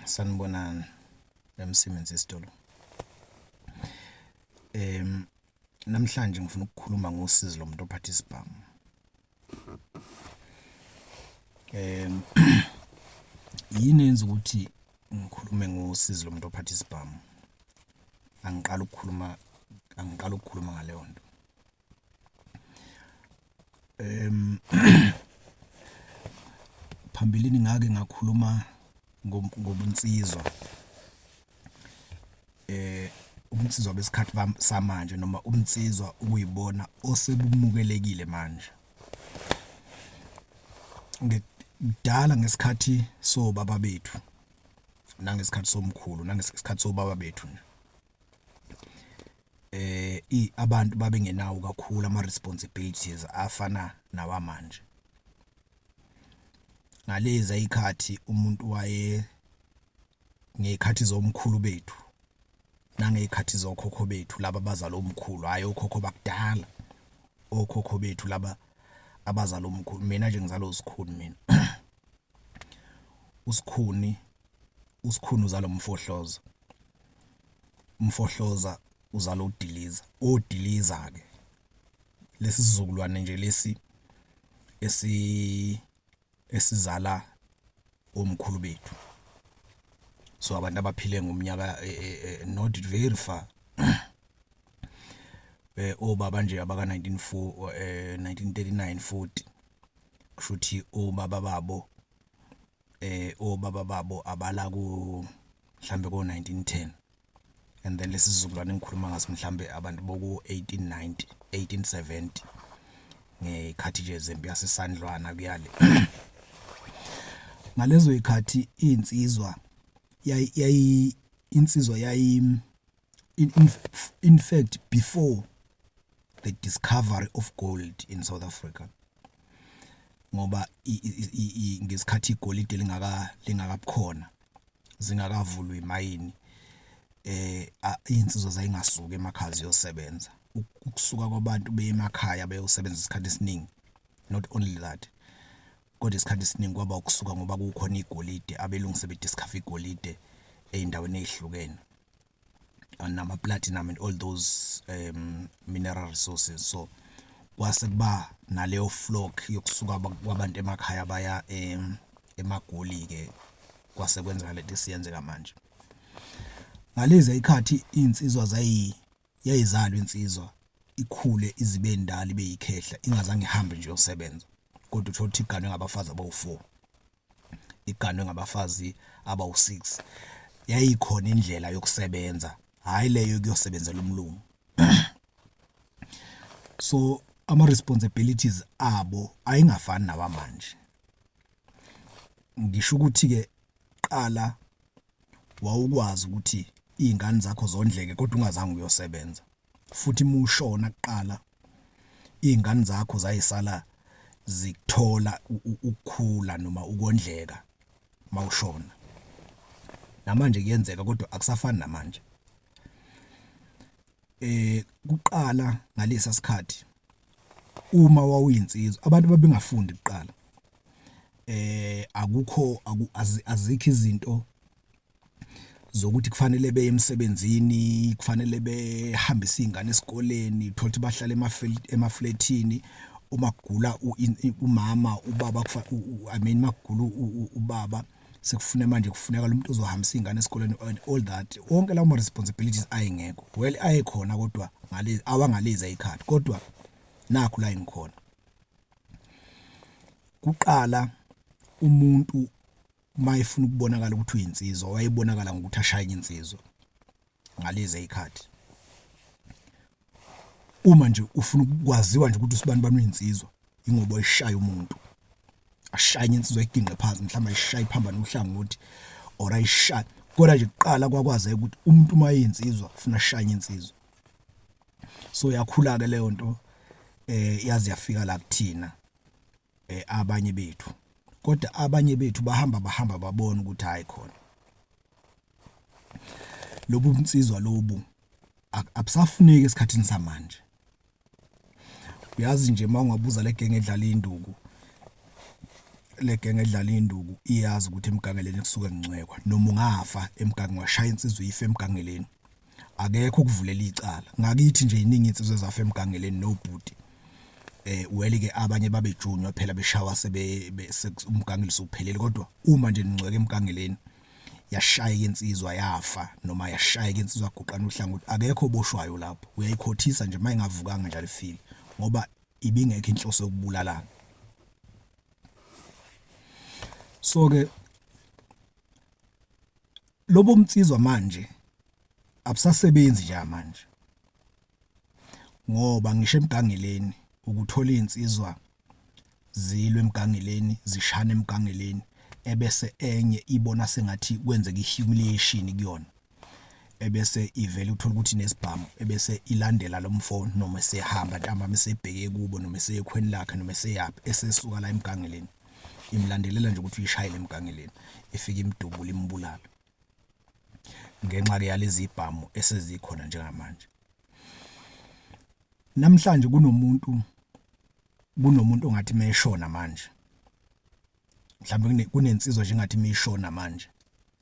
Sanibonani Msimenzi isitolo. Namhlanje ngifuna ukukhuluma ngosizi lomuntu ophathe isibhamu. Yini eyenza ukuthi ngikhulume ngosizi lomuntu ophathe isibhamu? Angiqali ukukhuluma angiqali ukukhuluma ngaleyo nto. em phambilini ngake ngakhuluma ngobunsizwa eh ubunsizwa besikhathi samanje noma ubunsizwa ukuyibona osebumukelekile manje ngidala ngesikhathi sobaba bethu nangesikhathi somkhulu nangesikhathi sobaba bethu nje Abantu babengenawo kakhulu ama-responsibilities afana nawamanje. Ngalezi ay'khathi umuntu waye ngey'khathi zomkhulu bethu nangey'khathi zokhokho bethu laba abazala omkhulu, hhayi okhokho bakudala, okhokho bethu laba abazala omkhulu. Mina nje ngizalwa uSkhuni mina, uSkhuni. usikhuni uzalo mfohloza umfohloza uzala udiliza odiliza ke lesi sizukulwane nje lesi esi esizala omkhulu bethu so abantu abaphile ngomnyaka eh, eh, eh, not very far eh obaba nje abaka 1940 eh 1939 40 kushuthi obaba babo eh obaba babo abala ku mhlambe ko 1910 and then lesizukulwane engikhuluma ngaso mhlambe abantu boku 1890 1870 ngekhathi nje zempi yasesandlwana kuyale ngalezo ikhathi insizwa yayi insizwa yayi In, in, in fact, before the discovery of gold in South Africa, ngoba ngesikhathi igolide lingaka lingakabukhona zingakavulwa imayini eh insizwa zayingasuka emakhaya ziyosebenza ukusuka kwabantu beyemakhaya beyosebenza isikhathi esiningi not only that kodwa isikhathi esiningi kwaba ukusuka ngoba kukhona igolide abelungu sebediscover igolide ezindaweni ezihlukene nama platinum and all those um mineral resources so kwase kuba naleyo flock yokusuka kwabantu emakhaya baya um emagoli ke kwase kwenzeka lento esiyenzeka manje ngalezi ikhathi insizwa zayi yayizalwa insizwa ikhule izibe ndala ibe yikhehla ingazange ihambe nje yosebenza kodwa uthola ukuthi igane ngabafazi abawu4 iganwe ngabafazi abawu-six. Yayikhona indlela yokusebenza, hhayi le yokuyosebenzela umlungu. So, ama-responsibilities abo ayengafani nawamanje. Ngisho ukuthi-ke kuqala wawukwazi ukuthi iy'ngane zakho zondleke kodwa ungazange uyosebenza. futhi mushona kuqala izingane zakho zayisala zikuthola ukukhula noma ukondleka mawushona namanje kuyenzeka kodwa akusafani namanje eh kuqala ngalesa sikhathi uma wawuyinsizwa abantu babengafundi kuqala eh akukho azikho izinto zokuthi kufanele beye emsebenzini kufanele behambise izingane esikoleni thothi bahlale emaflethini uma kugula umama ubaba i mean makugula ubaba sekufune manje kufuneka lo muntu ozohambisa izingane esikoleni and all that wonke lawo ma responsibilities ayengekho well ayekhona kodwa ngale awangalezi ayikhadi kodwa nakho la engikhona kuqala umuntu uma efuna ukubonakala ukuthi uyinsizwa wayebonakala ngokuthi ashayeke insizwa ngalezi ezikhadi uma nje ufuna ukwaziwa nje ukuthi usibani bani uyinsizwa ingoba ishaya umuntu ashaya insizwa iginqe phansi mhlawumbe ishaya iphambana uhlangothi or ayishaya kodwa nje kuqala kwakwazeka ukuthi umuntu uma eyinsizwa ufuna ashaya insizwa so yakhula ke leyo nto eh yazi yafika la kuthina eh, abanye bethu kodwa abanye bethu bahamba bahamba babona ukuthi hayi khona lobu bunsizwa lobu abusafuneki esikhathini samanje uyazi nje mawungabuza legenge edlala induku legenge edlala induku iyazi ukuthi emgangeleni kusuke ngincwekwa noma ungafa emgangi washaya insizwa ife emgangeleni Akekho ukuvulela icala. Ngakithi nje iningi insizwe zafa emgangeleni nobhuti. Eh well ke abanye babejunywa phela beshawa sebe umgangelo suphelele kodwa uma nje ningcweke emgangeleni yashayeka insizwa yafa noma yashayeka insizwa guqana uhlangothi akekho oboshwayo lapho uyayikhothisa nje mayingavukanga njalo ifile ngoba ibingekho inhloso yokubulalana so ke lobo mtsizwa manje abusasebenzi nje manje ngoba ngisho emgangeleni ukuthola izinsizwa zilwe emgangeleni zishana emgangeleni ebese enye ibona sengathi kwenzeka ihumiliation kuyona ebese ivele uthola ukuthi nesibhamu ebese ilandela lo mfoni noma esehamba ntambama esebheke kubo noma eseyekhweni lakhe noma eseyaphi esesuka la emgangeleni imlandelela nje ukuthi uyishayele emgangeleni ifike imdubule imbulale ngenxa ke yalezi bhamu esezikhona njengamanje namhlanje kunomuntu kunomuntu ongathi meshona manje mhlawumbe kunensizwa nje ngathi mishona manje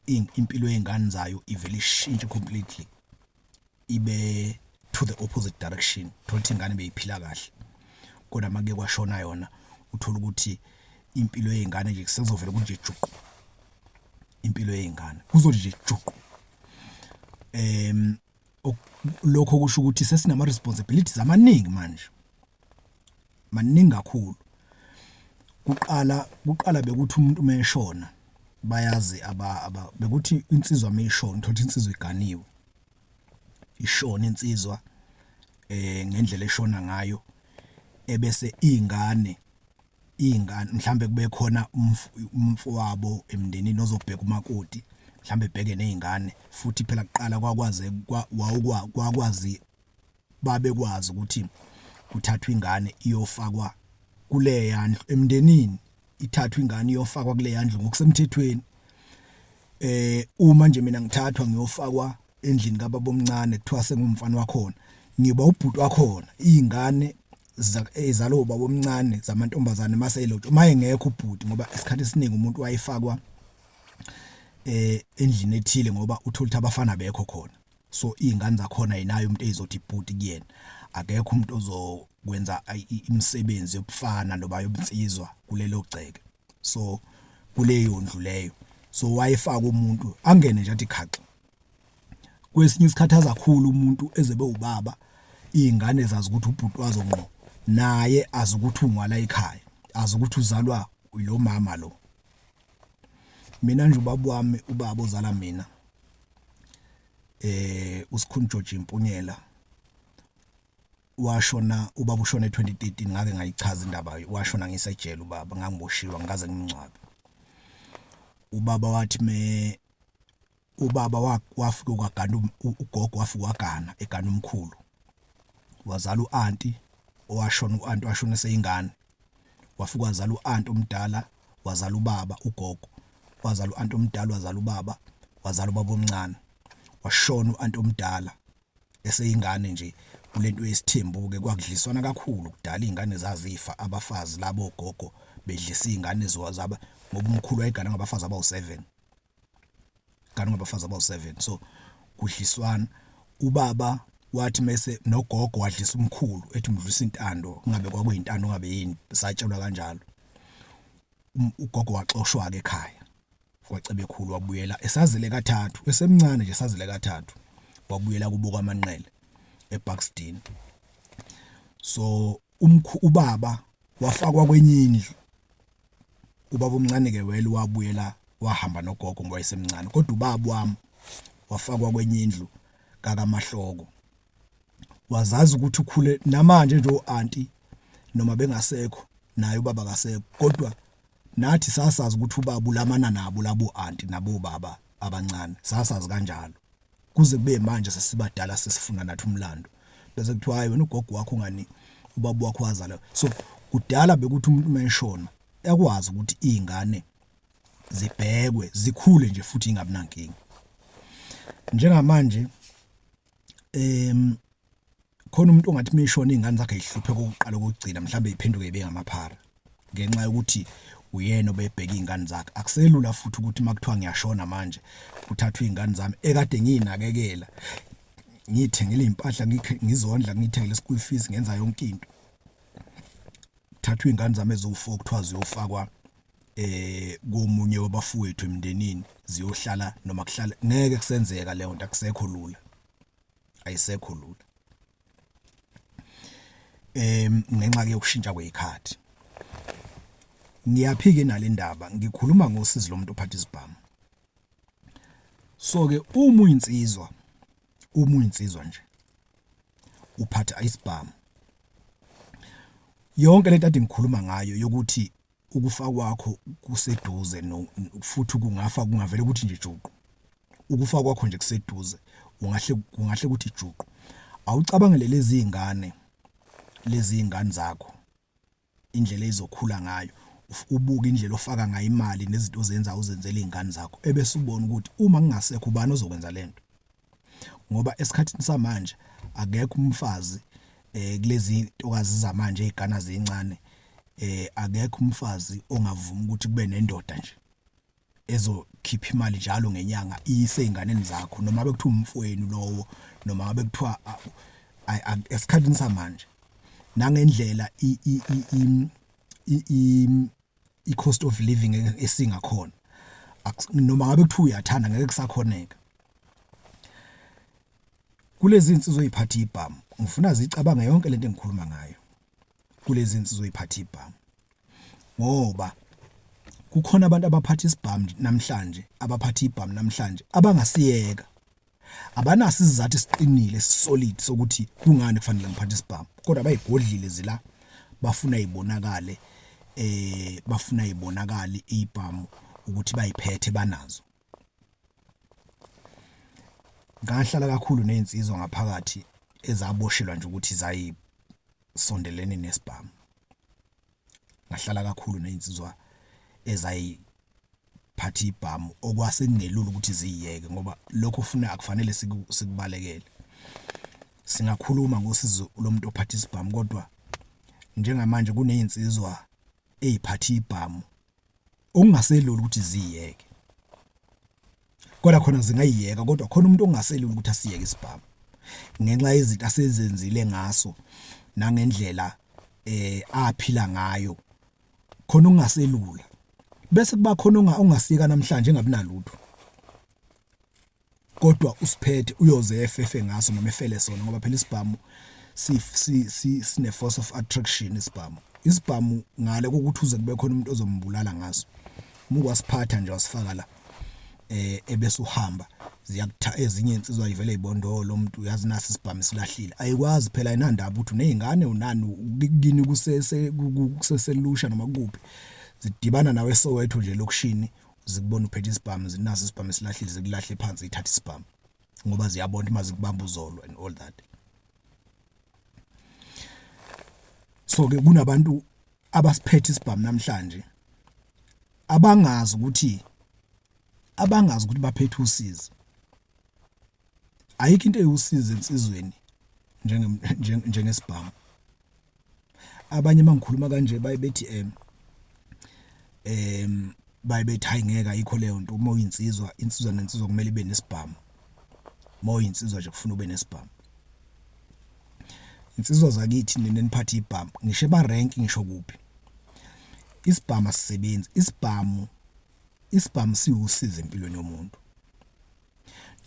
impilo yezingane zayo ivele ishintshe completely ibe to the opposite direction thola ukuthi ingane beyiphila kahle kodwa make kwashona yona uthola ukuthi impilo yezingane nje kusezovela kunje juqu impilo yezingane kuzothi nje juqu em lokho kusho ukuthi sesinama responsibilities amaningi manje maningi kakhulu kuqala kuqala bekuthi umuntu meshona bayazi aba aba bekuthi insizwa meyishona uthola insizwa iganiwe ishona insizwa eh ngendlela eshona ngayo ebese ingane iy'ngane mhlawumbe kube khona umfowabo emndenini ozobheka umakoti mhlawumbe ebheke ney'ngane futhi phela kuqala kwakwaze kwakwazi babekwazi ukuthi kuthathwa ingane iyofakwa kuleya ndlu emndenini ithathwa ingane iyofakwa kuleya ndlu ngokusemthethweni eh uma nje mina ngithathwa ngiyofakwa endlini kababa omncane kuthiwa sengumfana wakhona ngiba ubhuti wakhona izingane ezalo eh, baba omncane zamantombazane mase elotshwa uma engekho ubhuti ngoba isikhathi esiningi umuntu wayefakwa eh endlini ethile ngoba uthola ukuthi abafana bekho khona so izingane zakhona yinayo umuntu ezizothi ibhuti kuyena akekho umuntu ozokwenza imisebenzi yobufana noba yobunsizwa kulelo gceke so kuleyo ndlu leyo so wayefaka umuntu angene nje athi khaxa kwesinye isikhathaza kakhulu umuntu ezebe ubaba izingane zazi ukuthi ubhuti wazo ngqo naye azi ukuthi ungwala ekhaya azi ukuthi uzalwa lo mama lo mina nje ubaba wami ubaba ozala mina eh usikhuni George Mpunyela washona ubaba ushona e2013 ngake ngayichaza indaba washona ngisejele ubaba ngangiboshiwa ngikaze ngimncwabe ubaba wathi me ubaba wafike kwagana um, ugogo wafike wagana egana umkhulu wazala uanti owashona uanti washona seyingane wafike wazala uanti omdala wazala ubaba ugogo wazala uanti omdala wazala ubaba wazala ubaba omncane washona uanti omdala eseyingane nje kulento yesithembu-ke kwakudliswana kakhulu kudala iy'ngane zazifa abafazi labo ogogo bedlisa iy'ngane zaba ngoba umkhulu wayegana ngabafazi abawu-seven, egana ngabafazi abawu-seven so kudliswana. Ubaba wathi mese nogogo wadlisa umkhulu ethi umdlisa intando kungabe kwakuyintando ngabe yini satshelwa kanjalo. Ugogo waxoshwa-ke ekhaya. kwaCebekhulu wabuyela esazile kathathu esemncane nje esazile kathathu wabuyela kubo kwaManqele eBuxton so umkhu ubaba wafakwa kwenye indlu ubaba omncane ke wele wabuyela wahamba nogogo ngoba esemncane kodwa ubaba wami wafakwa kwenye indlu kakamahloko wazazi ukuthi ukhule namanje nje oanti noma bengasekho naye ubaba kasekho kodwa nathi sasazi ukuthi ubaba ulamana nabo labo anti nabo baba abancane sasazi kanjalo kuze kube manje sesibadala sesifuna nathi umlando bese kuthiwa hayi wena ugogo wakho ngani ubaba wakho wazala so kudala bekuthi umuntu menshona yakwazi ukuthi izingane zibhekwe zikhule nje futhi ingabinankinga njengamanje em khona umuntu ongathi mishona izingane zakhe ihluphe kokuqala kokugcina mhlawumbe iphenduke ibe ngamaphara ngenxa yokuthi uyena obebheka izingane zakhe akuselula futhi ukuthi makuthiwa ngiyashona manje kuthathwa izingane zami ekade nginakekela ngithengele impahla ngizondla ngithengele school fees ngenza yonke into thathwa izingane zami eziwu4 kuthiwa ziyofakwa eh komunye wabafowethu emndenini ziyohlala noma kuhlala ngeke kusenzeka leyo nto akusekho lula ayisekho lula em ngenxa ke yokushintsha kwezikhathi ngiyaphike nalendaba ngikhuluma ngosizi lomuntu ophatha isibhamu so ke uma uyinsizwa uma uyinsizwa nje uphatha isibhamu yonke lento ade ngikhuluma ngayo yokuthi ukufa kwakho kuseduze no futhi kungafa kungavela ukuthi nje juqu ukufa kwakho nje kuseduze ungahle kungahle ukuthi juqu awucabangele lezi ingane lezi ingane zakho indlela ezokhula ngayo ubuke indlela ofaka ngayo imali nezinto ozenza uzenzele izingane zakho ebese ubona ukuthi uma ngingasekho ubani ozokwenza lento ngoba esikhathini samanje akekho umfazi eh kulezi ntokazi zamanje ezigana zincane eh akekho umfazi ongavuma ukuthi kube nendoda nje ezokhipha imali njalo ngenyanga iyise ezinganeni zakho noma bekuthiwa umfweni lowo noma bekuthiwa esikhathini samanje nangendlela i i-cost of living ngeke esingakhona noma ngabe kuthiwa uyathanda ngeke kusakhoneka kulezi insizwa oyiphatha ibhamu ngifuna zicabange yonke lento engikhuluma ngayo kulezi insizwa oyiphatha ibhamu ngoba kukhona abantu abaphatha isibhamu namhlanje abaphatha ibhamu namhlanje abangasiyeka Abanaso isizathu esiqinile esisolid sokuthi kungani kufanele ngiphathe isibhamu kodwa bayigodlile zila bafuna ibonakale eh bafuna ibonakale ibhamu ukuthi bayiphethe banazo. Ngahlala kakhulu nezinsizwa ngaphakathi ezaboshelwa nje ukuthi zayisondelene nesibhamu. ngahlala kakhulu ney'nsizwa ezayiphatha ibhamu okwase kungelula ukuthi ziyiyeke ngoba lokho funa akufanele sikubalekele. Singakhuluma ngosizo lomuntu ophatha isibhamu kodwa njengamanje kuney'nsizwa ey'phatha ibhamu. okungaselula ukuthi ziyeke kodwa khona zingayiyeka kodwa khona umuntu ongaselula ukuthi asiyeke isibhamu ngenxa yezinto asezenzile ngaso nangendlela eh aphila ngayo khona ungaselula bese kuba khona ongasiyeka namhlanje engabi nalutho kodwa usiphethe uyoze efefe ngaso noma efele sona ngoba phela isibhamu sine force of attraction isibhamu isibhamu ngale kokuthi uze kube khona umuntu ozombulala ngaso muku wasiphatha nje wasifaka la eh ebese uhamba ziyakutha ezinye insizwa ivele ibondolo umuntu uyazi nasi isibhamu silahlile ayikwazi phela ayinandaba ukuthi unezingane unani ukini kusese kuseselusha noma kuphi zidibana nawe Soweto nje lokushini zikubona uphethe isibhamu zinaso isibhamu esilahlile zikulahle phansi ithathe isibhamu ngoba ziyabona uma zikubamba uzolo and all that so ke kunabantu abasiphethe isibhamu namhlanje abangazi ukuthi abangazi ukuthi baphethe usizi ayikho into ewusizi ensizweni njengesibhamu abanye mangikhuluma kanje baye bethi em em baye bethi hayi ngeke ayikho leyo nto uma uyinsizwa insizwa nensizwa kumele ibe nesibhamu uma uyinsizwa nje kufuna ube nesibhamu insizwa zakithi nina niphathe ibhamu ngisho eba rank ngisho kuphi isibhamu asisebenzi isibhamu isibhamu siwusiza empilweni yomuntu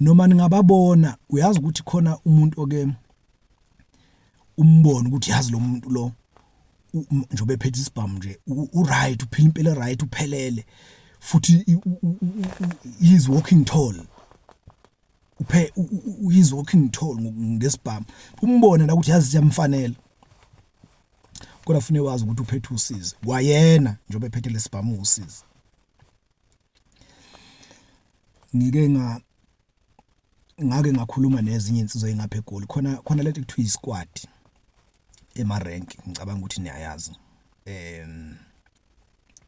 noma ningababona uyazi ukuthi khona umuntu oke umbone ukuthi yazi lo muntu lo njobe phethe isibhamu nje u right uphila impilo right uphelele futhi he is walking tall uphe he is walking tall ngesibhamu umbone la ukuthi yazi siyamfanela kodwa fune wazi ukuthi uphethe usizi kwayena njobe phethe lesibhamu usizi Ngike nga ngake ngakhuluma nezinye insizwa engapha eGoli khona khona lento ekuthiwa isquad ema rank ngicabanga ukuthi niyayazi em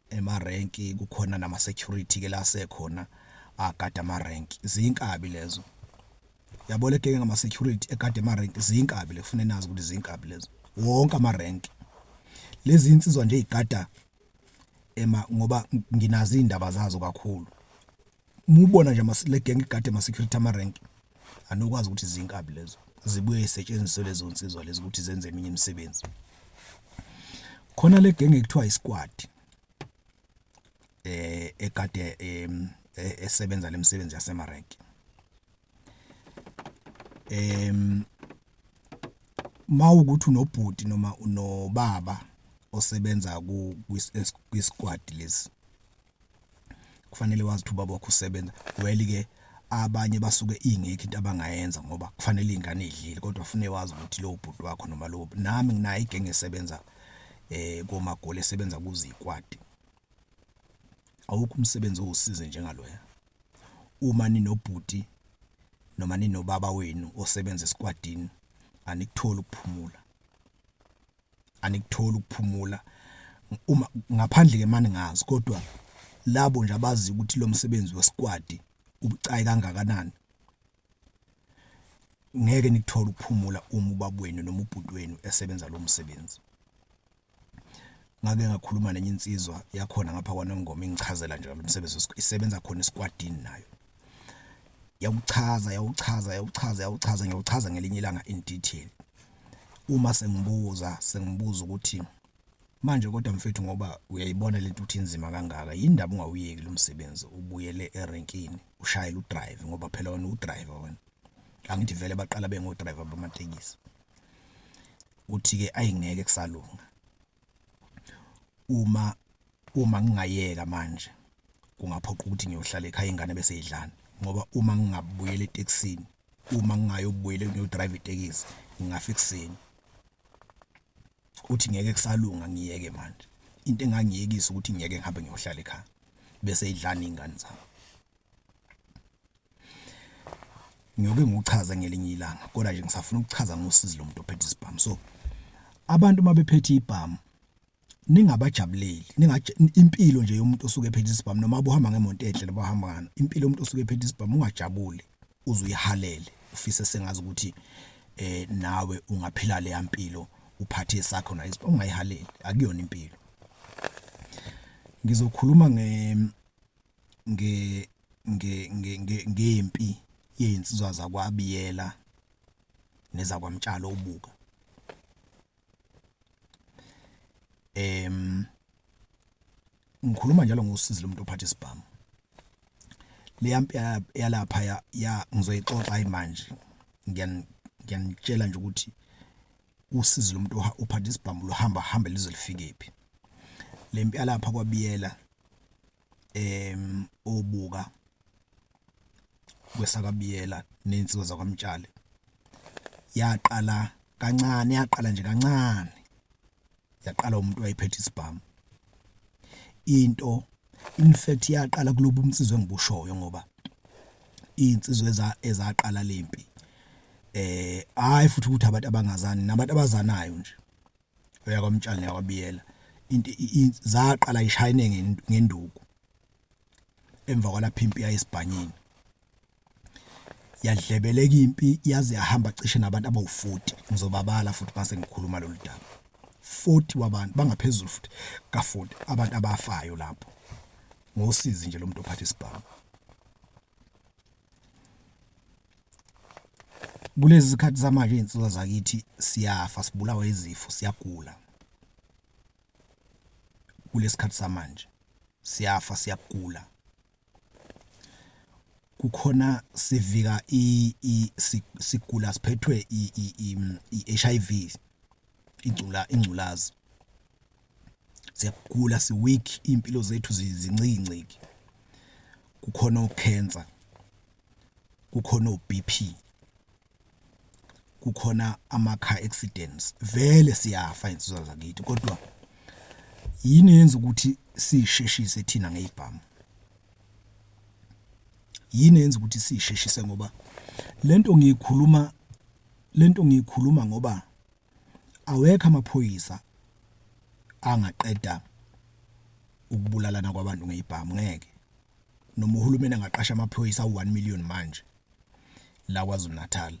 ema rank kukhona nama security ke la sekhona agada ama rank zinkabi lezo yabo le genge ngama security egade ama rank zinkabi le kufune nazi ukuthi zinkabi lezo wonke ama rank lezi insizwa nje igada ema ngoba nginazi indaba zazo kakhulu mubona nje amasile gang igade ama security ama rank anokwazi ukuthi zinkabi lezo zibuye isetshenziswe lezo nsizwa lezi ukuthi zenze eminye imisebenzi khona le gang ekuthiwa isquad eh ekade e, esebenza lemisebenzi yasemarenki em mawukuthi unobhuti noma unobaba osebenza ku kwisquad lesi kufanele wazi ukuthi ubaba wakho usebenza well ke abanye basuke ingekho into abangayenza ngoba kufanele izingane idlile kodwa ufune wazi ukuthi lo bhuti wakho noma lo nami nginayo igenge esebenza eh komagoli esebenza kuzikwadi awukho umsebenzi owusize njengaloya uma ninobhuti noma ninobaba wenu osebenza esikwadini anikutholi ukuphumula anikutholi ukuphumula uma ngaphandle ke mani ngazi kodwa labo nje abazi ukuthi lo msebenzi wesikwadi ubucayi kangakanani ngeke nikuthola ukuphumula uma ubabwenu noma ubhuti wenu esebenza lo msebenzi. ngake ngakhuluma nenye insizwa yakhona ngapha kwaNongoma ingichazela nje lomsebenzi isebenza khona esikwadini nayo yawuchaza yawuchaza yawuchaza yawuchaza ngiyawuchaza ngelinye ilanga in detail uma sengibuza sengibuza ukuthi manje kodwa mfethu ngoba uyayibona lento uthi inzima kangaka yindaba ungawuyeki lo msebenzi ubuyele erenkini ushayele udrive ngoba phela wena udriver wena angithi vele baqala bengodriver bamatekisi uthi-ke ayi ngeke kusalunga. Uma uma ngingayeka manje kungaphoqa ukuthi ngiyohlala ekhaya ingane bese idlani ngoba uma ngingabuyela etekisini uma ngingayobuyela ngiyodrayiva itekisi ngingafa ekuseni. Uthi ngeke kusalunga ngiyeke manje. Into engangiyekisa ukuthi ngiyeke ngihambe ngiyohlala ekhaya bese idlani iy'ngane zami. Ngiyoke ngiwuchaze ngelinye ilanga kodwa nje ngisafuna ukuchaza ngosizi lomuntu ophethe isibhamu. So abantu uma bephethe ibhamu ningabajabuleli impilo nje yomuntu osuke ephethe isibhamu noma ubuhamba ngemoto enhle noma uhamba ngani impilo yomuntu osuke ephethe isibhamu ungajabuli uze uyihalele ufise sengazi ukuthi eh nawe ungaphila leya mpilo uphathe sakho na isibhamu ungayihaleli akuyona impilo. Ngizokhuluma nge nge nge ngempi yezinsizwa zakwaBiyela nezakwaMtshalo ubuka em ngikhuluma njalo ngosizi lomuntu ophatha isibhamu leya mpi yalapha ya ngizoyixoxa imanje ngiyanitshela nje ukuthi usizi lomuntu ophatha isibhamu luhamba hambe lize lifikephi lempi yalapha kwaBiyela obuka kwesakaBiyela nensizwa zakwaMtshali yaqala kancane yaqala nje kancane yaqala umuntu wayephethe isibhamu into in fact yaqala kulobu umsizi engibushoyo ngoba iy'nsizwa eza ezaqala le mpi eh hhayi futhi ukuthi abantu abangazani nabantu abazanayo nje. oya kwamtshali neyakwabiyela into zaqala ishayine ngenduku emva kwalapha impi yayisibhanyini yadlebeleka impi yaze yahamba cishe nabantu abawu-40 ngizobabala futhi mase ngikhuluma lolu daba 40 wabantu bangaphezulu futhi ka-40 abantu abafayo lapho ngosizi nje lo muntu ophatha isibhamu Kulezi zikhathi zamanje iy'nsizwa zakithi siyafa sibulawa izifo siyagula. Kulesi khathi samanje siyafa siyagula. Kukhona sivika sigula siphethwe i-H_I_V ingculazi. siyagula si-weak iy'mpilo zethu zincikinciki kukhona o-cancer, kukhona o-B_P, kukhona ama-car accidents vele siyafa iy'nsizwa zakithi kodwa yini eyenza ukuthi siyisheshise thina ngey'bhamu? Yini eyenza ukuthi siyisheshise ngoba lento ngiyikhuluma lento ngiyikhuluma ngoba awekho amaphoyisa angaqeda ukubulalana kwabantu ngezibhamu ngeke noma uhulumeni angaqasha amaphoyisa u1 million manje la kwaZulu Natal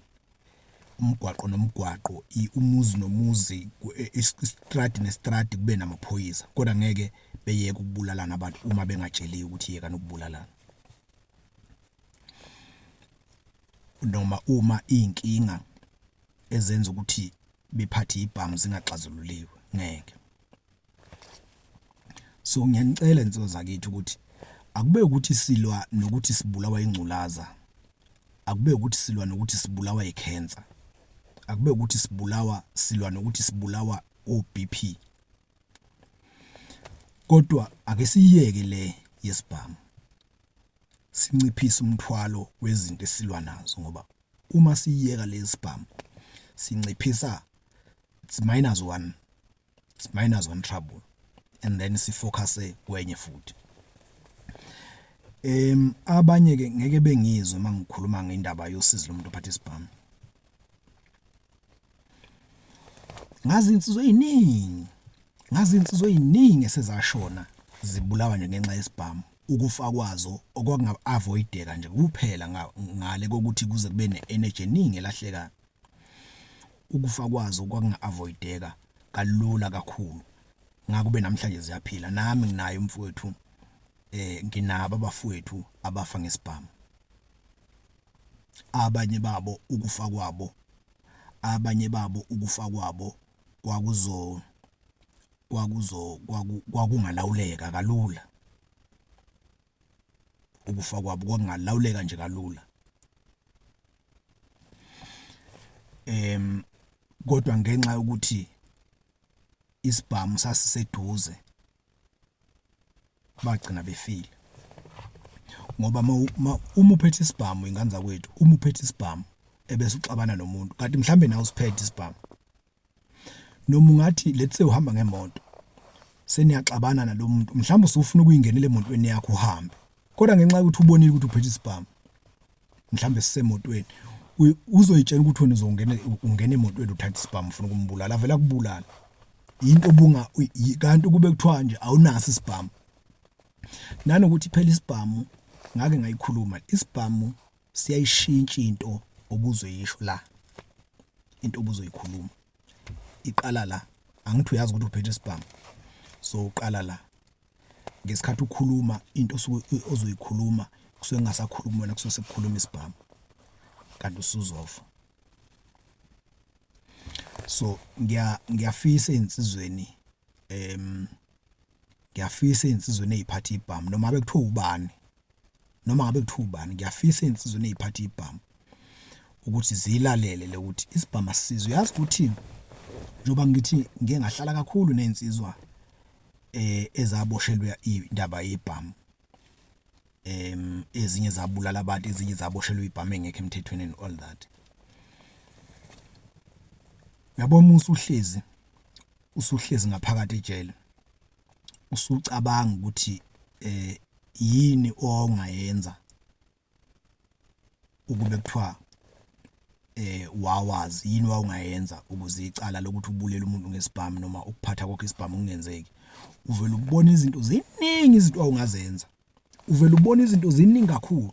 umgwaqo nomgwaqo umuzi nomuzi e, e, istradi nestradi kube namaphoyisa kodwa ngeke beyeke ukubulalana abantu uma bengatsheliwe ukuthi yekani ukubulalana noma uma inkinga ezenza ukuthi bephathe ibhamu zingaxazululiwe ngeke so ngiyanicela insizwa zakithi ukuthi akube ukuthi silwa nokuthi sibulawa ingculaza akube ukuthi silwa nokuthi sibulawa icancer akube ukuthi sibulawa silwa nokuthi sibulawa oBP kodwa ake siyeke le yesibhamu sinciphise umthwalo wezinto esilwa nazo ngoba Uma siyiyeka le yesibhamu sinciphisa it's minus one, it's minus one trouble and then si-focus-e kwenye futhi. Abanye-ke ngeke bengizwe uma ngikhuluma ngendaba yosizi lomuntu ophatha isibhamu. Ngazi iy'nsizwa ey'ningi, ngazi iy'nsizwa ey'ningi esezashona zibulawa nje ngenxa yesibhamu. Ukufa kwazo okwakunga-avoideka nje kuphela ngale kokuthi kuze kube ne-energy eningi elahlekayo. Ukufa kwazo kwakunga-avoideka kalula kakhulu. Ngakube namhlanje ziyaphila. Nami nginaye umfowethu, um nginabo abafowethu abafa ngesibhamu. Abanye babo ukufa kwabo, abanye babo ukufa kwabo kwakuzo. kwakungalawuleka kalula. Ukufa kwabo kwakungalawuleka nje kalula. Kodwa ngenxa yokuthi isibhamu sasiseduze bagcina befile ngoba uma uphethe isibhamu ingane zakwethu uma uphethe isibhamu ebese uxabana nomuntu kanti mhlawumbe nawe usiphethe isibhamu. noma ungathi let's say uhamba ngemoto seniyaxabana nalomuntu mhlawumbe usufuna ukuyingenela emotweni yakho uhambe kodwa ngenxa yokuthi ubonile ukuthi uphethe isibhamu mhlawumbe sisemotweni uzoyitshela ukuthi wena uzongena ungena emotweni uthatha isibhamu ufuna ukumbulala avela kubulala into obunga kanti kube kuthiwa nje awunaso isibhamu nanokuthi phela isibhamu ngake ngayikhuluma isibhamu siyayishintsha into obuzoyisho la into obuzoyikhuluma iqala la angithi uyazi ukuthi uphethe isibhamu so uqala la ngesikhathi ukhuluma into osuke ozoyikhuluma kusuke kungasakhulumi wena kusuke sekukhuluma isibhamu kanti usuzofa so ngiya ngiyafisa insizweni em ngiyafisa insizweni eziphatha ibhamu noma bekuthiwa ubani noma ngabe kuthiwa ubani ngiyafisa ey'nsizweni ey'phatha ibhamu ukuthi zilalele le ukuthi isibhamu asisizi uyazi ukuthi njengoba ngithi ngike ngahlala kakhulu ney'nsizwa eh ezaboshelwa indaba yebhamu em ezinye zabulala abantu ezinye zaboshelwa ibhamu engekho emthethweni and all that yabo musa uhlezi usuhlezi ngaphakathi ejele usucabanga ukuthi eh yini ongayenza ukube kuthiwa eh wawazi yini wawungayenza ukuze icala lokuthi ubulele umuntu ngesibhamu noma ukuphatha kwakhe isibhamu kungenzeki uvela ukubona izinto ziningi izinto awungazenza uvele ubone izinto ziningi kakhulu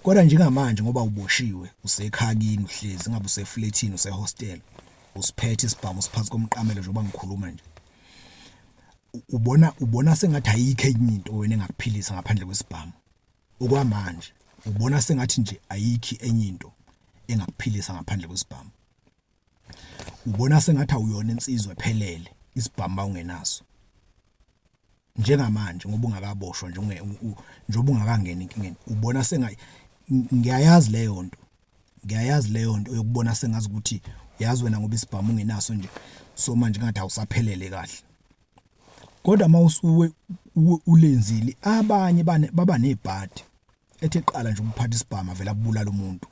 kodwa njengamanje ngoba uboshiwe usekhakini uhlezi ngabe useflethini usehostel usiphethe isibhamu siphansi komqamelo njengoba ngikhuluma nje ubona ubona sengathi ayikho enye into wena engakuphilisa ngaphandle kwesibhamu okwamanje ubona sengathi nje ayikho enye into engakuphilisa ngaphandle kwesibhamu ubona sengathi awuyona insizwa ephelele isibhamu bawungenaso njengamanje ngoba ungakaboshwa nje njengoba ungakangena enkingeni ubona senga ngiyayazi leyo nto ngiyayazi leyo nto yokubona sengazi ukuthi yazi wena ngoba isibhamu ungenaso nje so manje ngathi awusaphelele kahle kodwa uma usuwe ulenzile abanye baba nebhadi ethi eqala nje ukuphatha isibhamu vele abulala umuntu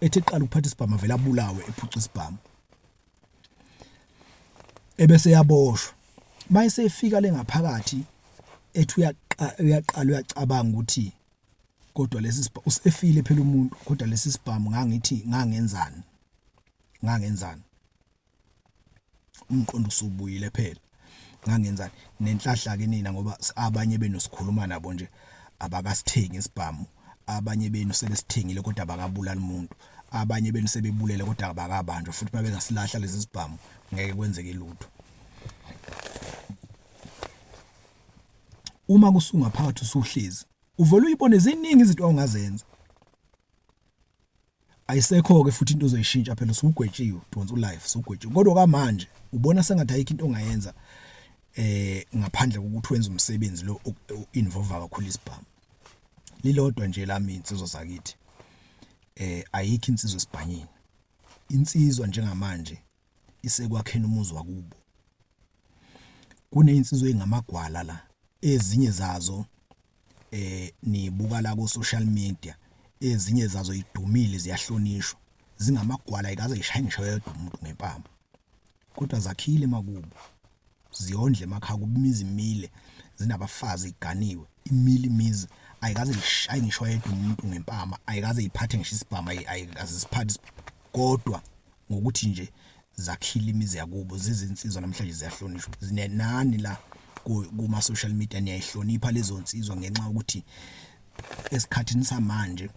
ethi eqala ukuphatha isibhamu avele abulawe ephuca isibhamu ebese yaboshwa mayise efika lengaphakathi ethi uyaqala uyacabanga ukuthi kodwa lesi usefile phela umuntu kodwa lesi sibhamu ngangithi ngangenzani ngangenzani umqondo usubuyile phela ngangenzani nenhlahla ke nina ngoba abanye benu sikhuluma nabo nje abakasithengi isibhamu abanye benu sebesithengile kodwa bakabulali umuntu abanye benu sebebulele kodwa abakabanjwa futhi babengasilahla lezi zibhamu ngeke kwenzeke lutho uma kusunga phakathi usuhlezi uvele uyibone ziningi izinto ongazenza ayisekho-ke futhi into ozoyishintsha phela usugwetshiwe udonsa ulife usugwetshiwe kodwa kwamanje ubona sengathi ayikho into ongayenza eh ngaphandle kokuthi wenze umsebenzi lo involve kakhulu isibhamu lilodwa nje lami insizwa zakithi eh ayikho insizwa esibhanyini insizwa njengamanje isekwakheni umuzi wakubo. Kuneyinsizwa engamagwala la ezinye zazo eh nibuka la ku social media ezinye zazo idumile ziyahlonishwa zingamagwala ikaze zishaye ngisho yedwa umuntu ngempama kodwa zakhile emakubo ziyondle emakhaya kubumizi imile zinabafazi iganiwe imile imizi ayikaze ngishaye ngisho yedwa umuntu ngempama ayikaze iphathe ngisho isibhamu ayikaze siphathe kodwa ngokuthi nje zakhile imizi yakubo zizinsizwa namhlanje ziyahlonishwa zinenani la kuma social media niyayihlonipha lezo nsizwa ngenxa ukuthi esikhathini samanje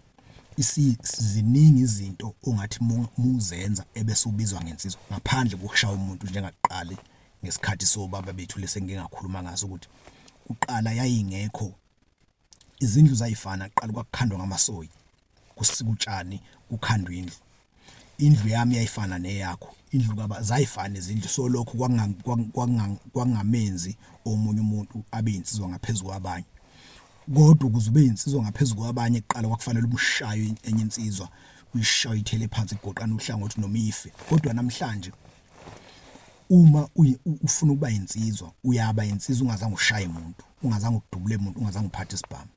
isiziningi izinto ongathi muzenza ebese ubizwa ngensizwa ngaphandle kokushaya umuntu njengaqali ngesikhathi sobaba bethu lesengingakhuluma ngaso ukuthi uqala yayingekho izindlu zayifana kuqala kwakukhandwa ngamasoyi kusika utshani kukhandwa indlu indlu yami yayifana neyakho indlu kaba zayifana izindlu so lokho kwakungamenzi omunye umuntu abe insizwa ngaphezulu kwabanye kodwa ukuze ube insizwa ngaphezulu kwabanye kuqala kwakufanele umshaye enye insizwa uyishaye ithele phansi igoqana uhlangothi noma ife kodwa namhlanje Uma ufuna ukuba insizwa uyaba insizwa ungazange ushaye muntu, ungazange udubule muntu, ungazange uphathe isibhamu.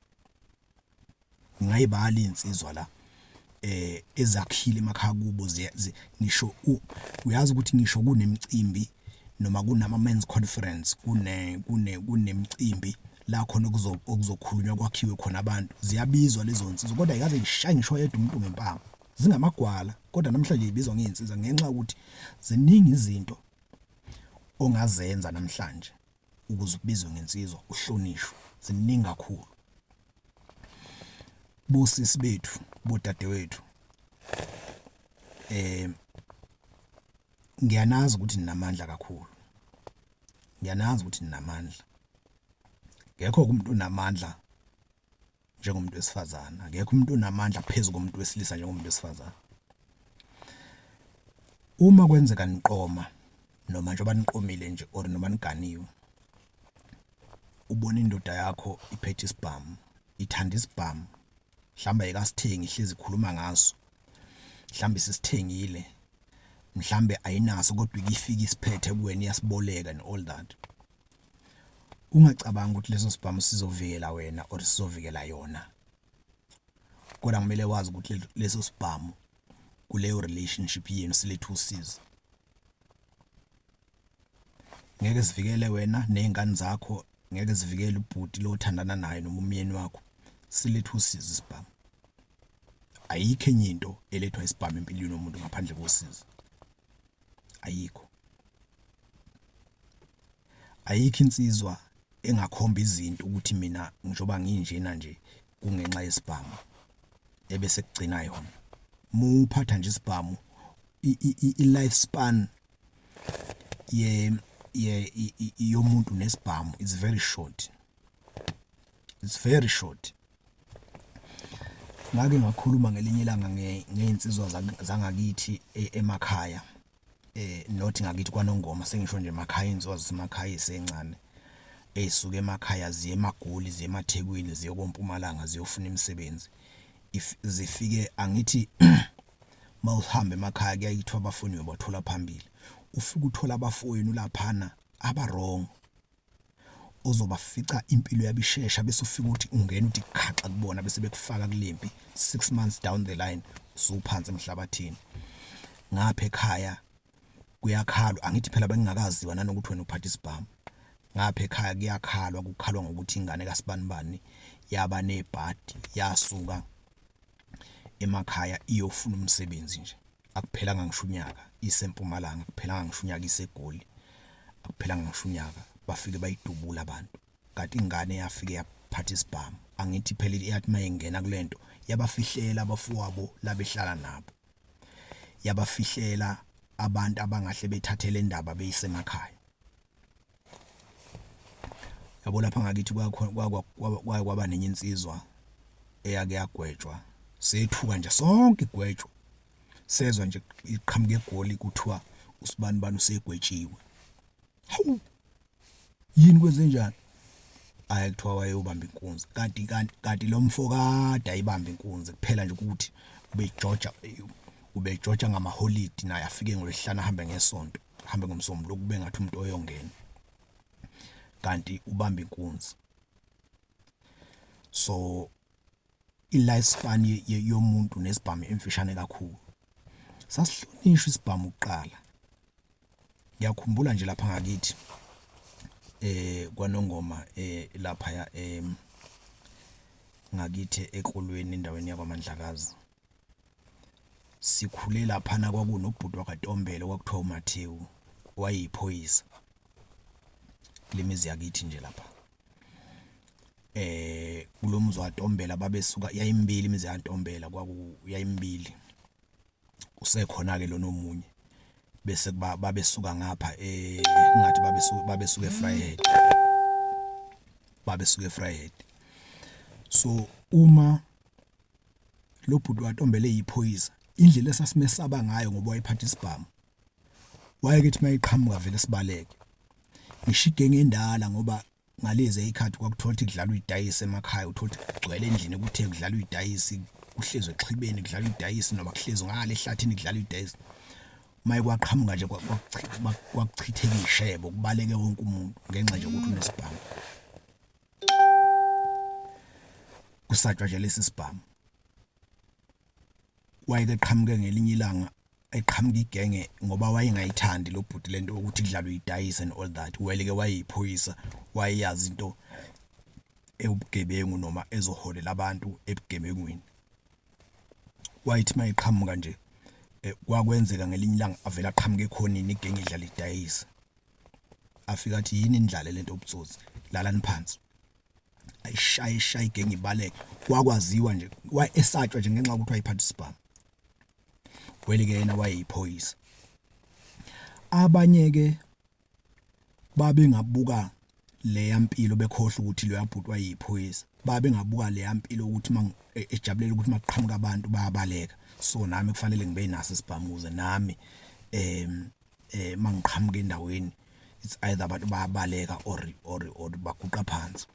Ngingayibala iy'nsizwa la ezakhile emakhaya kubo ngisho uyazi ukuthi ngisho kunemicimbi noma kunama-men's conference kunemicimbi la khona okuzokhulunywa kwakhiwe khona abantu ziyabizwa lezo nsizwa kodwa ayikaze ayishaye ngisho oyedwa umuntu ngempama. zingamagwala kodwa namhlanje yibizwa ngey'nsiza ngenxa yokuthi ziningi izinto ongazenza namhlanje ukuze ubizwe ngensizwa uhlonishwe ziningi kakhulu bosisi bethu bodadewethu eh ngiyanazi ukuthi ninamandla kakhulu ngiyanazi ukuthi ninamandla ngekho umuntu onamandla njengomuntu wesifazane akekho umuntu onamandla phezu komuntu wesilisa njengomuntu wesifazane uma kwenzeka niqoma noma njengoba niqomile nje or noma niganiwe ubona indoda yakho iphethe isibhamu ithanda isibhamu mhlawumbe ayikasithengi ihlezi ikhuluma ngaso mhlawumbe sisithengile mhlawumbe ayinaso kodwa ikifika isiphethe kuwena iyasiboleka and all that ungacabangi ukuthi leso sibhamu sizovikela wena or sizovikela yona kodwa kumele wazi ukuthi leso sibhamu kuleyo relationship yenu siletha usizi ngeke sivikele wena nezingane zakho ngeke sivikele ubhuti lo othandana naye noma umyeni wakho siletha usizi sibhamu ayikho enye into elethwa isibhamu empilweni yomuntu ngaphandle kosizi ayikho Ayikho insizwa engakhomba izinto ukuthi mina njengoba nginjena nje kungenxa yesibhamu ebese kugcina yona. Uma uphatha nje isibhamu i-life span ye ye yomuntu nesibhamu is very short. It's very short. Ngake ngakhuluma ngelinye ilanga ngey'nsizwa zangakithi emakhaya. not ngakithi kwaNongoma sengisho nje emakhaya iy'nsizwa zasemakhaya ey'sencane ey'suka emakhaya ziye emaGoli, ziye emaThekwini, ziye koMpumalanga ziyofuna imisebenzi. If zifike angithi uma uhamba emakhaya kuyaye kuthiwe abafowenu uyobathola phambili, ufike uthole abafowenu laphana aba-wrong. ozobafica impilo yabo ishesha bese ufika uthi ungena uthi khaxa kubona bese bekufaka kulempi 6 months down the line usuphansi emhlabathini ngapha ekhaya kuyakhalwa angithi phela bengingakaziwa nanokuthi wena uphatha isibhamu ngapha ekhaya kuyakhalwa kukhalwa ngokuthi ingane kasibanibani yaba nebhadi yasuka emakhaya iyofuna umsebenzi nje. Akuphelanga ngisho unyaka iseMpumalanga, akuphelanga ngisho unyaka iseGoli, akuphelanga ngisho unyaka bafike bayidubula abantu. Kanti ingane yafike yaphatha isibhamu. Angithi phela iyathi uma ingena kule nto yabafihlela abafowabo labehlala nabo. Yabafihlela abantu abangahle bethathe le ndaba beyisemakhaya. yabo lapha ngakithi kwaye kwaba nenye insizwa eyake yagwetshwa sethuka nje sonke igwetshwa sezwa nje iqhamuke egoli kuthiwa usibani bani usegwetshiwe hawu yini kwenzenjani ayi kuthiwa wayeyobamba inkunzi kanti kanti kanti lo mfo kade ayibamba inkunzi kuphela nje ukuthi ubejoja ubejoja ngamaholidi naye afike ngolwehlana ahambe ngesonto hambe ngomsombuluko kube ngathi umuntu oyongena kanti ubamba inkunzi so i-lifespan yomuntu nesibhamu emfishane kakhulu sasihlonishwa isibhamu kuqala ngiyakhumbula nje lapha ngakithi eh kwanongoma eh lapha ya em ngakithi ekolweni endaweni yakwaMandlakazi Sikhule laphana kwakunobhuti wakwaNtombela okwakuthiwa uMathewu wayeyiphoyisa kule mizi yakithi nje lapha eh kulo mzi waNtombela babesuka yayimbili imizi yaNtombela kwaku yayimbili usekhona ke lona omunye bese kuba babesuka ngapha eh ngathi babesuka babesuka eFryhead babesuka eFryhead so uma lo bhuti waTombela eyiphoyisa indlela esasimesaba ngayo ngoba wayephatha isibhamu wayeke ethi mayiqhamuka vele sibaleke ngisho igenge endala ngoba ngalezi ayikhathi kwakuthola ukuthi kudlalwa idayisi emakhaya uthola ukuthi kugcwele endlini kuthe kudlalwa idayisi kuhlezwe exhibeni kudlalwa idayisi noma kuhlezwe ngale ehlathini kudlalwa idayisi maye kwaqhamuka nje kwakuchitheka ishebo kubaleke wonke umuntu ngenxa nje ukuthi unesibhamu kusatshwa nje lesi sibhamu wayeke qhamuke ngelinye ilanga eqhamuka igenge ngoba wayengayithandi lo bhuti lento ukuthi idlalo idayise and all that welike wayeyiphoyisa wayeyazi into ewubugebengu noma ezoholela abantu ebugebengwini wayithi mayiqhamuka nje eh, kwakwenzeka ngelinye ilanga avela aqhamuke ekhonini igenge idlala idayise afika athi yini indlale lento ubutsotsi lalani phansi ayishaye ishaye igenge ibaleke wakwaziwa nje wayesatshwa nje ngenxa ukuthi wayeparticipant kweli ke yena wayeyiphoyisa abanye ke babengabuka leya mpilo bekhohle ukuthi leya bhuti wayeyiphoyisa babengabuka leya mpilo ukuthi e, ejabulela ukuthi maqhamuka abantu bayabaleka so nami kufanele ngibe naso isibhamuze nami em eh mangiqhamuka endaweni it's either abantu bayabaleka or or or baguqa phansi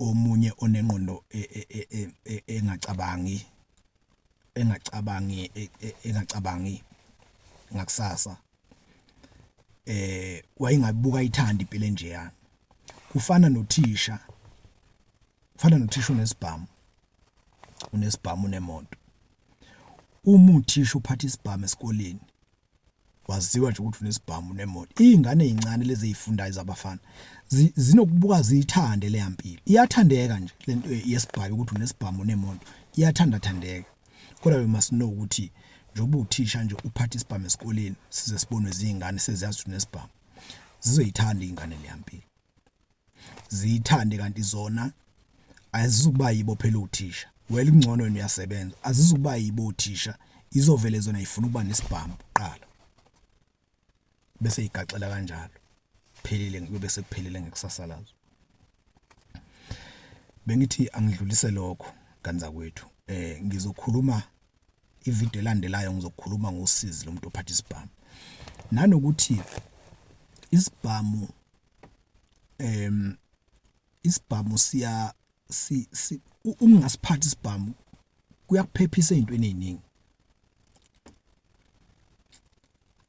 omunye onengqondo e, e, e, engacabangi engacabangi engacabangi ngakusasa eh wayengabuka ithanda impilo enjeya kufana nothisha kufana nothisha unesibhamu unesibhamu unemoto uma uthisha uphatha isibhamu esikoleni waziwa nje ukuthi unesibhamu nemoto izingane ezincane lezi ezifundayo zabafana zinokubuka ziyithande le yampilo iyathandeka nje lento eh, yesibhamu ukuthi unesibhamu nemoto iyathanda thandeka kodwa we must know ukuthi njengoba uthisha nje uphatha isibhamu esikoleni size sibonwe izingane seziyazi ukuthi unesibhamu zizoyithanda izingane le yampilo ziyithande kanti zona azizukuba yibo phela othisha well kungcono wena uyasebenza azizukuba yibo othisha izovele zona ifuna ukuba nesibhamu kuqala bese igaxela kanjalo phelile kube sekuphelile ngekusasa lazo bengithi angidlulise lokho kanzakwethu eh ngizokhuluma ivideo elandelayo ngizokhuluma ngosizi lomuntu ophatha isibhamu nanokuthi isibhamu em isibhamu siya si, si ungasiphathi isibhamu kuyakuphephisa ezintweni eziningi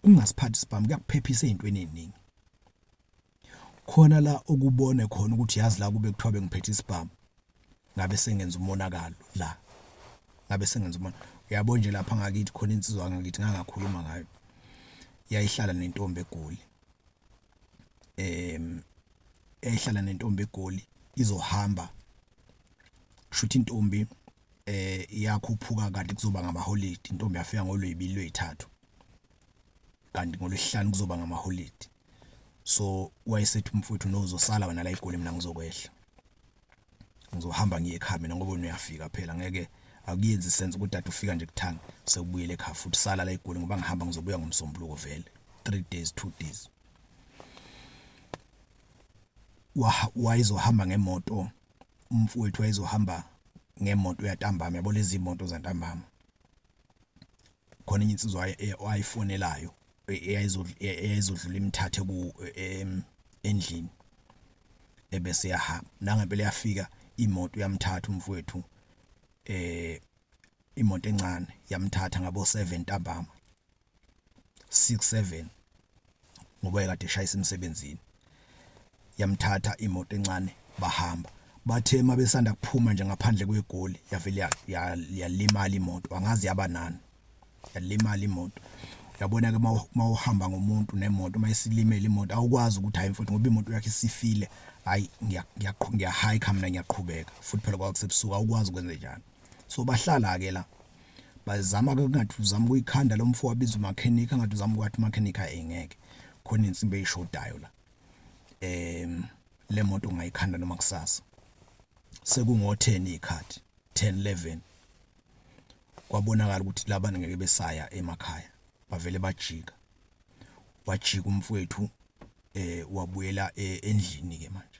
ungasiphathi isibhamu kuyakuphephisa ezintweni eziningi khona la okubone khona ukuthi yazi la kube kuthiwa bengiphethe isibhamu ngabe sengenza umonakalo la ngabe sengenza umona uyabo nje lapha ngakithi khona insizwa ngakithi ngangakhuluma ngayo yayihlala nentombi egoli em ehlala nentombi egoli izohamba kushuthi intombi eh iyakhuphuka kanti kuzoba ngamaholidi intombi yafika ngolwebili lwethathu kanti ngolwesihlanu kuzoba ngamaholidi so wayesethi umfowethu no uzosala wena la egoli mina ngizokwehla ngizohamba ngiye ekhaya mina ngoba uyafika phela ngeke akuyenzi sense ukuthi dade ufika nje kuthanga sekubuyele ekhaya futhi sala la egoli ngoba ngihamba ngizobuya ngomsombuluko vele 3 days 2 days wayezohamba ngemoto umfowethu wayezohamba ngemoto yantambama yabo lezi moto zantambama khona enye insizwa wayifonelayo e, eyayizodlula imthathe ku e, endlini ebese yahamba nangempela yafika imoto yamthatha umfowethu eh imoto encane yamthatha ngabo 7 ntambama 67 ngoba ekade eshayisa emsebenzini yamthatha imoto encane bahamba bathe uma besanda kuphuma nje ngaphandle kwegoli yavele yalimala imoto angazi yaba nani yalimala imoto yabona ke mawuhamba ngomuntu nemoto uma isilimele imoto awukwazi ukuthi hayi mfowethu ngoba imoto yakhe isifile hayi ngiyaqhubeka ngiyahayikha mina ngiyaqhubeka futhi phela kwakusebusuku awukwazi ukwenze njani so bahlala ke la bazama ke kungathi uzama ukuyikhanda lo mfo wabiza umakhenika ngathi uzama ukwathi umakhenika engeke khona insimbi eyishodayo la em le moto ungayikhanda noma kusasa sekungo10 ikhathi 10 11 kwabonakala ukuthi labana ngeke besaya emakhaya bavele bajika wajika umfowethu eh wabuyela eh, endlini ke manje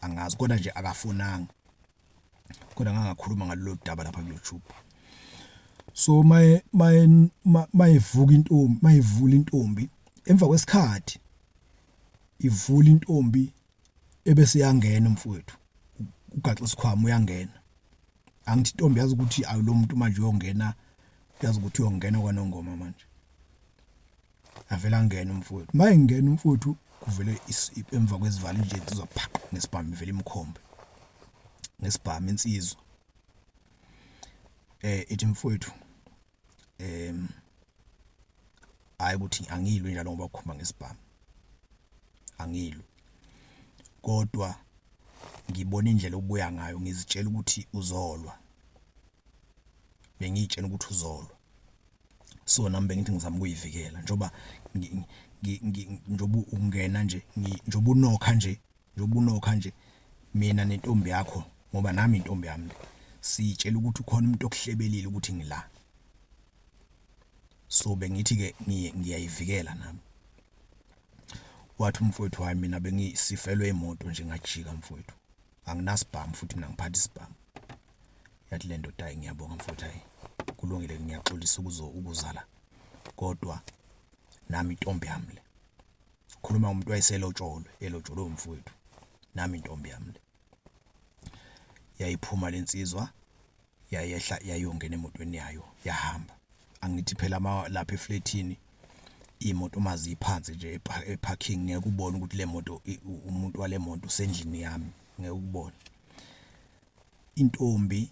angazi kodwa nje akafonanga kodwa ngangakhuluma ngalolu daba lapha ku-YouTube so maye maye mayevuka intombi mayivula intombi emva kwesikhathi ivula intombi ebese yangena mfowethu ugaxa isikhwama uyangena angithi intombi yazi ukuthi awulomuntu manje uyongena yazi ukuthi uyongena kwanongoma manje Avele angene umfowethu. Uma engena umfowethu kuvele emva kwezivalo nje insizwa phaqa ngesibhamu ivele imkhombe. Ngesibhamu insizwa. Eh ithi mfowethu em hayi ukuthi angilwe njalo ngoba ukhomba ngesibhamu. Angilwe. Kodwa ngibona indlela obuya ngayo ngizitshela ukuthi uzolwa. Bengiyitshena ukuthi uzolwa. so nami bengithi ngizama ukuyivikela njoba njoba ungena nje njoba unokha nje njoba unokha nje mina nentombi yakho ngoba nami intombi yami sitshela ukuthi ukhona umuntu okuhlebelile ukuthi ngila so bengithi ke ngiyayivikela nami wathi umfowethu hayi mina bengisifelwe imoto nje ngajika mfowethu anginasibhamu futhi mina ngiphatha isibhamu yathi le ndoda hayi ngiyabonga mfowethu hayi kulungile ngiyaxolisa ukuzo ukuzala kodwa nami intombi yami le khuluma umuntu wayeselotsholwe elotsholwe umfowethu nami intombi yami le yayiphuma lensizwa yayehla yayongena emotweni yayo yahamba angithi phela lapha eflethini imoto uma ziphansi nje eparking ngeke ubone ukuthi le moto umuntu wale moto usendlini yami ngeke ukubone intombi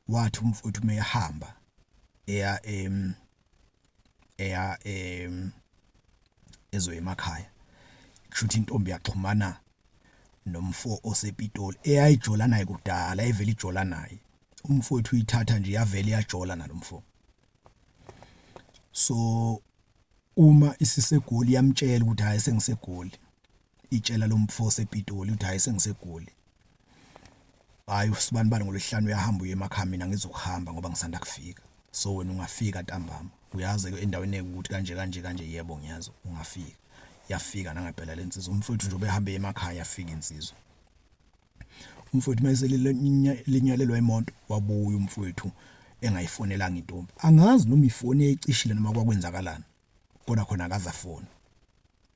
wathi umfowethu meyahamba eya em eya em ezoya emakhaya kushuthi intombi yaxhumana nomfo osepitoli eyayijola naye kudala evela ijola naye umfowethu uyithatha nje yavele yajola nalomfo so uma isisegoli yamtshela ukuthi hayi sengisegoli itshela lo mfo osePitoli ukuthi hayi sengiseGoli hayi usibanibani ngolwesihlanu uyahamba uye emakhaya mina ngizokuhamba ngoba ngisanda kufika so wena ungafika ntambama uyazi endaweni ekuthi kanje kanje kanje yebo ngiyazi ungafika yafika nangempela lensizwa umfowethu nje ubehambe emakhaya yafika insizwa umfowethu mayeselinyalelwa imoto wabuya umfowethu engayifonelanga intombi angazi noma ifoni eyicishile noma kwakwenzakalani kodwa khona akazafona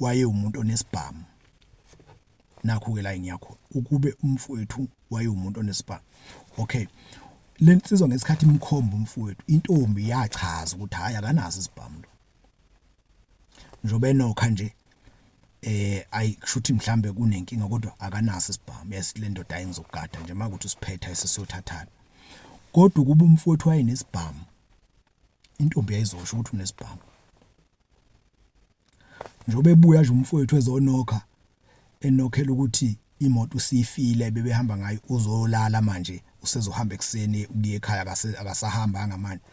wayewumuntu onesibhamu nakho-ke la engiya khona ukube umfowethu wayewumuntu onesibhamu okay le nsizwa ngesikhathi imkhomba umfowethu intombi yachaza ukuthi hhayi akanaso isibhamu lo njengoba enokha nje eh ayi kushuthi mhlambe kunenkinga kodwa akanaso isibhamu yasile ndoda ayengizokugada nje makuthi usiphetha esesiyothathana kodwa ukuba umfowethu wayenesibhamu intombi yayizosho ukuthi unesibhamu Njengoba ebuya nje umfowethu ezonokha enokhela ukuthi imoto usifile bebehamba ngayo uzolala manje usezohamba ekuseni ukuya ekhaya akasahambanga manje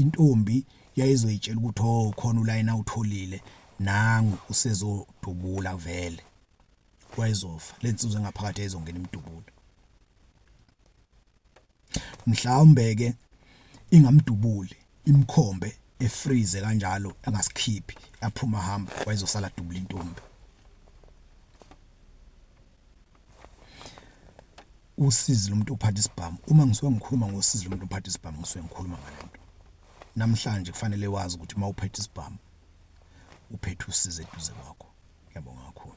intombi yayizoyitshela ukuthi oh khona ulayini awutholile nangu usezodubula vele wayezofa lensizwe engaphakathi yayizongena imdubula mhlawumbe ke ingamdubuli imkhombe efreeze kanjalo angasikhiphi aphuma hamba wayezosala dubula intombi usizi lomuntu uphatha isibhamu uma ngisuke ngikhuluma ngosizi lomuntu uphatha isibhamu ngisuke ngikhuluma ngalento namhlanje kufanele wazi ukuthi uma uphethe isibhamu uphethe usizi eduze kwakho ngiyabonga kakhulu